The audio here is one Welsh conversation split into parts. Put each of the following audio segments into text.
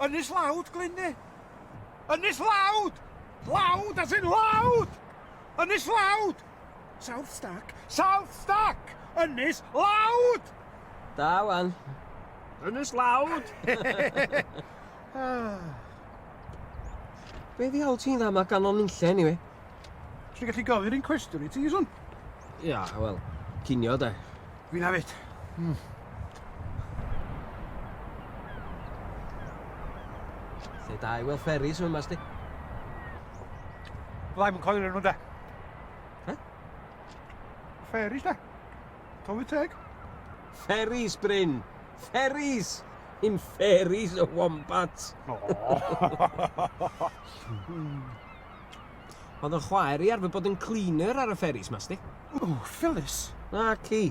Ynys Lawd, Glynne! Ynys Lawd! Lawd as in lawd! Ynys Lawd! South Stack! South Stack! Ynys Lawd! Da wan. Ynys Lawd! Ah. Be ddiawl ti'n dda ma ganon nunlle anyway? Ti'n gallu gofyn un cwestiwn i ti, Ieswn? Ia, wel, cinio de. Fi'n hafyd. Mm. Lle da i weld fferis yma, sti? Fyddai'n mynd coelio nhw, de. He? Fferis, de. Tofi teg. Fferis, Bryn. Fferis! In fairies a wombats. Oh. Oedd yn chwaer i arfer bod yn cleaner ar y ferries mas di. O, oh, Phyllis. Na, ci.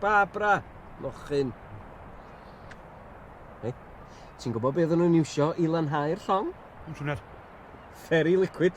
Barbara. Mochyn. Hei, ti'n gwybod beth oedden nhw'n iwsio i lanhau'r llong? Yn siwner. Ferry liquid.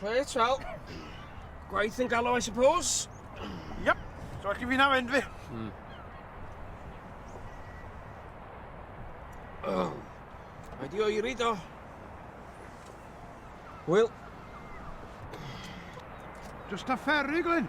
Reit, wel, gwaith yn galw, I suppose. Yep, so chi fi'n am enfi. Mm. Oh. Mae di oeri do. Wyl. Just a ferry, Glyn.